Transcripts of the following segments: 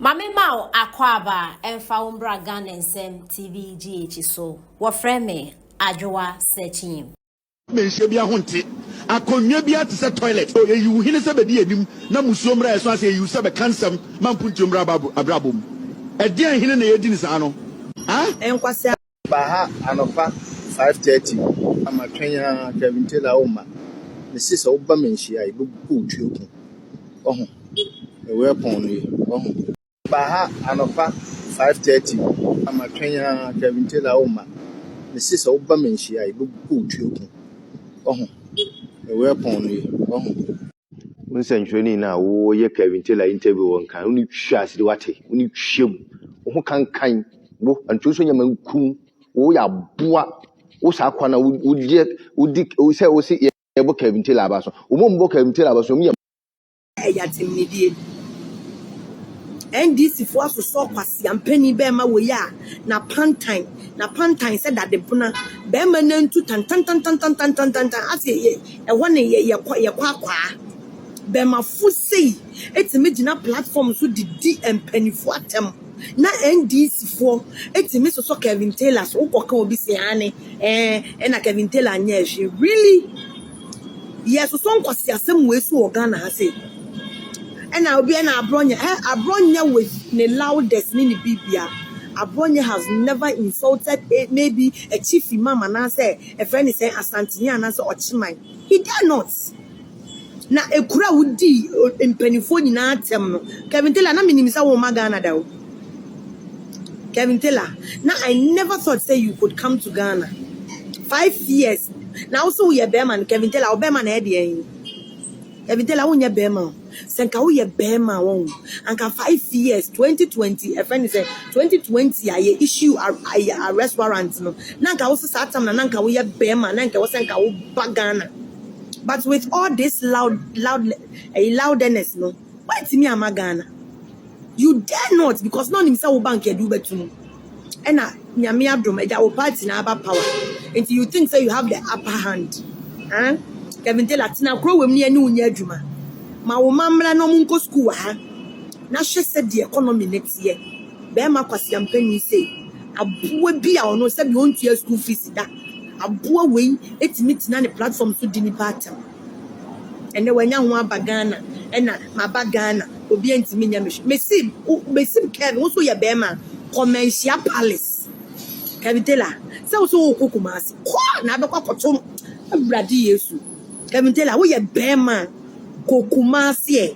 Ma me ma wo akwaaba ɛmfa wo mbra Ghana nsɛm TV GH so. Wɔfrɛ me Adwoa Sekyim. Mɛnhyia biaa ho nte akonnwa biaa te sɛ toilet oh Ɛyiw hene sɛ bɛdi anim na musuo mmra ɛso ase Ɛyiw sɛ bɛka nsɛm ma mpuntuo mmra abrabɔ mu Ɛdeɛn hene na yɛdi no saa no ah? Nkwasea Ba ha anɔpa five thirty na ma twɛn ara Kevin Taylor wo ma. Mesi sɛ woba me nhyia yi bɛbu kɔ otuo ko. Ɔho. Ɛwɔ ɛpɔn no yi. Ɔho. Ba ha anɔpa five thirty na ma twɛn ara Kevin Taylor wo ma. Mesi sɛ woba me nhyia yi bɛbu kɔ otuo ko. Ɔho. Ɛwɔ ɛpɔn no yi. Ɔho. Wo nsɛnkyerɛnne no a woyɛ Kevin Taylor interview wɔ nkan, wo ne twa ase de wate, wo ne twa mu, wo ho kankan wo, anto nso nyɛ mankum, wo yɛ aboa, wo saa kwa na wo deɛ wo di sɛ wo se yɛ bɔ Kevin Taylor aba so, wo mo bɔ Kevin Taylor aba so, wo yɛ. Ɛyɛ atemnidie. NDC foɔ asosɔ kwasia mpanin bɛɛma wɔ yi a na pantan, na pantan sɛ dadebona, bɛɛma nantu tantantantantantantantantan, ase yɛ. Ɛhɔ na yɛkɔ yɛkɔ akwaa. Bɛmafo sei tumi gyina platform so de di mpaninfoɔ atɛm na NDC foɔ tumi sosɔ Kevin Taylor so wokɔ ka obi se aane ɛɛ ɛna Kevin Taylor anyɛ ɛhwee really yɛsosɔ nkwasi asɛm wei so wɔ Ghana ha sei ɛna obi ɛna abrɔnyɛ ɛ abrɔnyɛ with ne loudest ne ne bibia abrɔnyɛ has never insulted a, maybe a chief imam anaasɛ Ɛfrɛ no sɛ Asanteni anaasɛ Ɔkyeman. He dare not! Na ekuro a wodii mpaninfoɔ nyinaa atɛm no, Kevin Taylor, na menim sɛ womma Ghana da o. Kevin Taylor, na I never thought sɛ you could come to Ghana. Five years, na wo se woyɛ bɛɛma no, Kevin Taylor, wo bɛɛma na ɛyɛ deɛn? Abidela wo nyɛ bɛɛma o sɛ nka wo yɛ bɛɛma a wɔn anka five years twenty twenty ɛfɛ ne sɛ twenty twenty a yɛ issue ayɛ arrest warrant no na nka wo sɛ saa tam na na nka wo yɛ bɛɛma na nka wo sɛ nka wo ba Ghana but with all this loud loud ɛyi loudness no wantumi ama Ghana. You dare not because na ɔnim sɛ wo bank yɛde wobɛto mu ɛna nyame adom ɛda wo party na aba power nti you think sɛ you have the upper hand eh? Kevin Taylor tena koro wɔ mu ne ɛne wo nyɛ adwuma ma wo ma mmra na ɔmo nkɔ school wɔ ha na hwɛ sɛ deɛ economy ne teɛ bɛrima kwasea mpanin sei aboa bi a ɔno sɛbi ɔntua school fees da aboa wei ɛtumi tena ne platform so di nipa atam. Ɛnɛ wanya ho aba Ghana ɛna maba Ghana obia ntumi nyɛ me hwee mesi wo mesi wo kɛn wo so yɛ bɛɛma kɔ manhyia palace Kevin Taylor sɛ wo so wo kɔ Kumasi kɔ na abɛkɔ akɔto awurade Yesu Kevin Taylor wo yɛ bɛɛma kɔ Kumasi ɛ.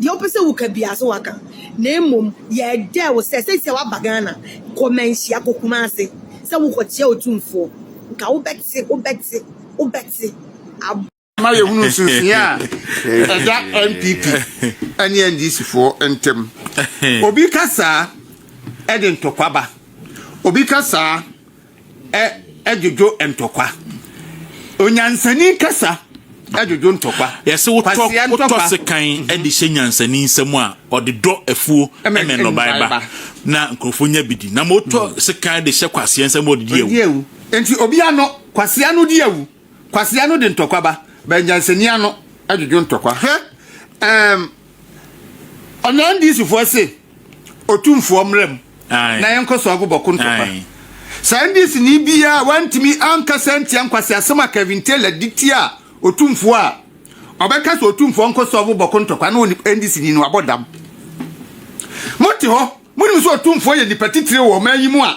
Deɛ wopɛ sɛ woka biara so waka na mmom yɛdɛ wo sɛ sɛsi a waba Ghana kɔ manhyia kɔ Kumase sɛ wokɔ kyia otumfoɔ nka wobɛte wobɛte wobɛte ab. Ma yɛhunu nsonsonoeɛ a ɛda NPP ne NDC foɔ ntam. Obi ka saa de ntɔkwa ba. Obi ka saa. dwodwo ntɔkwa. Onyansani kasa dwodwo ntɔkwa. Yɛse wotɔ wotɔ sekan de hyɛ nyansani nsam a ɔde dɔ afuo ne nnɔbae ba na nkurɔfoɔ nya bi di. Na ma wotɔ mm. sekan de hyɛ kwasea nsam a ɔde di awu. Nti obi ano kwasea no di awu. Kwasea no de ntɔkwa ba bɛn nyansani ano dwodwo ntɔkwa. Hwɛ ɛɛm ɔnandisifoɔ se. Otumfoɔ mmra mu na yɛnkɔ so agu bɔko ntɔkwa. Saa NDC ni biara wantumi ankasa antia nkwaseasɛm a Kevin Taylor de tia Otumfoɔ a ɔbɛka sɛ Otumfoɔ nkɔ so agu bɔko ntɔkwa no wɔ NDC ni no abɔ dam. Mote hɔ, monim sɛ Otumfoɔ yɛ nipa titire wɔ ɔman yi mu a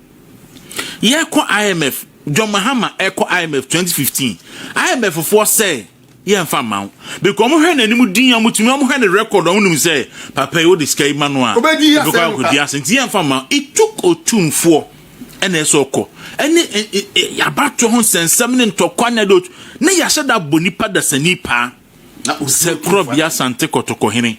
Yɛkɔ IMF, John Mahama ɛkɔ IMF 2015, IMF foɔ sɛ yɛn fa ma wo, because ɔmo hwɛ n'anim din, ɔmo tumi ɔmo hwɛ ne record, ɔmo nim sɛ papa yi wode sika yi ma no a, obedi ase, nti yɛn fa ma, it took otumfoɔ ɛna ɛsɛ ɔkɔ, ɛne abatoɔ ho nsɛnsɛm ne ntɔkwa ne ade, na yɛahyɛ da abɔ nipa dasani paa. sɛ korɔbea sante kɔtɔkɔ hene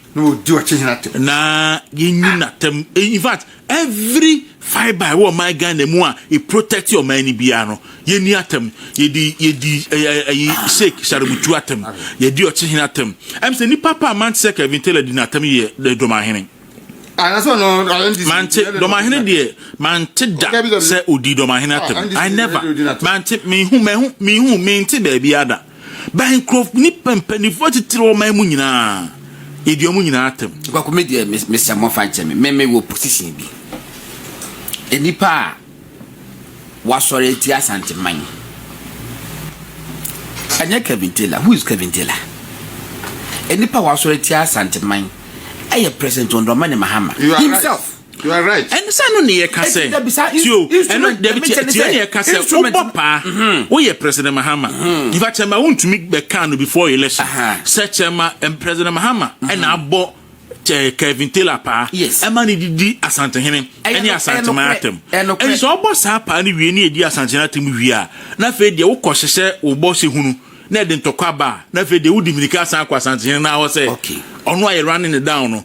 na yɛnyi natam eh, in fact every fibre ɛwɔ ɔman ghana mu a e protect ɔman no biara no yɛni atam yɛdi yɛdi ɛyi sheik sharebutu atam yɛdi ɔkyehene atam ɛm sɛ nipa pa a mante sɛ kevin taylor di n'atam yɛ dɔmahene mante dɔmahene deɛ mante da sɛ odi dɔmahene atam i never mante mehu mehu mehu mente baabi ada By nkurɔf nnipa mpanimfoɔ atitire wɔ ɔman mu nyinaa yɛdi wɔn nyinaa atɛm. Kwaku me deɛ mesɛ mɔfa nkyɛ me me me wɔ position bi nnipa a wasɔre atia asanteman ɛnyɛ Kevin Taylor who is Kevin Taylor nnipa a wasɔre atia asanteman ɛyɛ President Ɔndɔma ne Mahama himself. You are right. Ɛno sɛ ɛno ne yɛka sɛ. Ɛda bisa in- Tio, ɛno instrument dabi ɛmɛ kyɛ kyɛ ne tio sɛ ne yɛka sɛ instrument- wobɔ paa. Woyɛ President Mahama. Nifa Kyɛma wontumi bɛka no before election. Aha. Sɛ Kyɛma ɛm, President Mahama ɛna abɔ kyɛ Kevin Taylor paa. Yes. Ɛma ne didi Asantehene Ɛyɛ ɛne no- ɛyɛ Asanteman nokorɛ. atɛm. Ɛyɛ nokorɛ. Ɛne sɛ ɔbɔ saa paa no wie ne ɛdi Asanteman atɛm wie a, na afei deɛ wokɔ hyehyɛ wo bɔ sɛ hunu na ɛde ntɔkwa ba a, na afei deɛ wodi mmirika asan akɔ Asantehene no hɔ sɛ Okay. ɔno a yɛ running it down no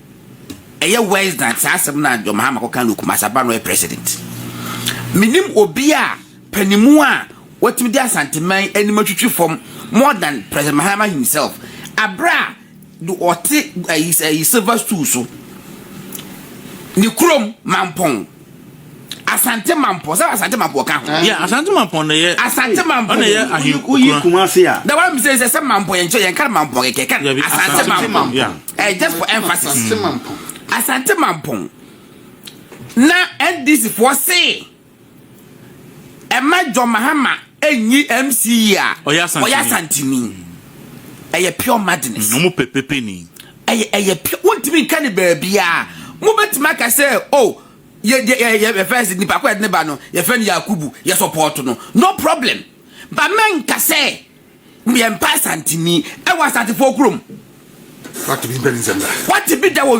Ɛyɛ worse than saa asɛm no a John Mahama kɔka no Kumasi aba no ɔyɛ president. Menim obi a panimu a watumi de Asanteman anim atwitwi fam more than President Mahama himself. Abere a ɔte ayi ayi silver stool so ne kurom Mampɔn. Asante Mampɔ sɛ Asante Mampɔ ɔka ho. Yɛ Asante Mampɔ na yɛ. Asante Mampɔ na yɛ ahe kura. Oyi Kumasi a. Na wàá mi sɛ sɛ Mampɔ yɛn nkyɛn yɛn kan Mampɔ kɛkɛ kan Asante Mampɔ ɛɛ just for emphasis. Asante Mampɔ. Asante Mampɔ na NDC foɔ se ɛma John Mahama enyi MC yi a ɔyɛ Asantini ɛyɛ pure madness. Ɔmo pɛ pepeni. Ɛyɛ ɛyɛ pure wontumi nka ne baabiara mobɛtumi aka sɛ o oh, yɛ yɛ yɛ yɛfɛ sɛ nipa kɔ yɛde ne ba no yɛfɛ no Yakubu yɛ support no no problem ba mɛnka sɛ yɛmpa asanteni ɛwɔ asantefoɔ kurom wate bi mpɛ ne nsɛm da wate bi da wɔ